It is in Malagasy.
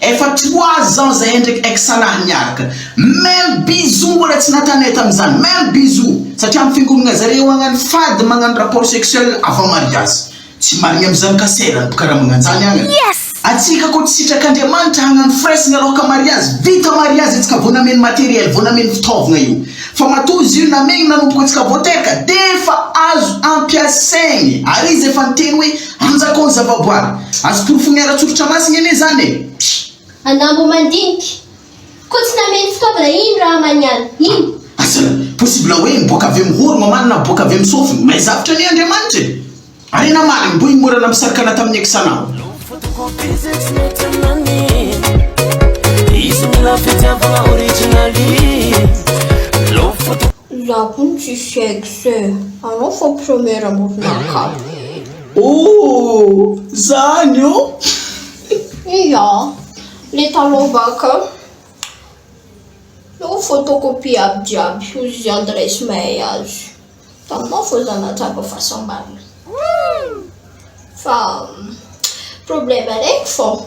Efa trois ans zahay ndraiky ex lahy miaraka, même bisous mbola tsy natanay tamizany, même bisous, satria am fiangonagna zareo agny any fady magnano rapport sexuel avant mariazy, tsy marigny amizany ka sera ny mpikaramagna anjany agny, atsika ko tsy sitrak Andriamanitra hagnano fresn aloha ka mariazy, vita mariazy atsika vo nameno materiel, vo nameno fitaovagna io, fa matoa izy io namegny nanomboka atsika vo teraka defa azo ampiasaigny, ary izy efa niteny hoe Anjakao ny zavaboary. Azo porofoiny ara-tsoritra masina anie izany e! Anambo mandinika. Koa tsy nameno fitaovana iny Rahamaniala iny. Aza! Possible hoe niboaka avy amin'ny horo mamany na miboaka avy amin'ny sofiny. Mahay zavtra anie Andriamanitra e! Harena marigny mbo himorana misarkana tamin'ny ex anao. Loko photocopie zay tsy mety aminany Izy mila fitiavagna original Loko photocopie. Za koa tsy sexe e! Anao fô premier amoron'ankato e! Ooh! Zany oh! Ia! Le talon baka oh! photocopie aby jiaby hozy izy any ray sy mahay azy! Taminao fô za nahatsapa fahasambarana! Fa problème araiky fô!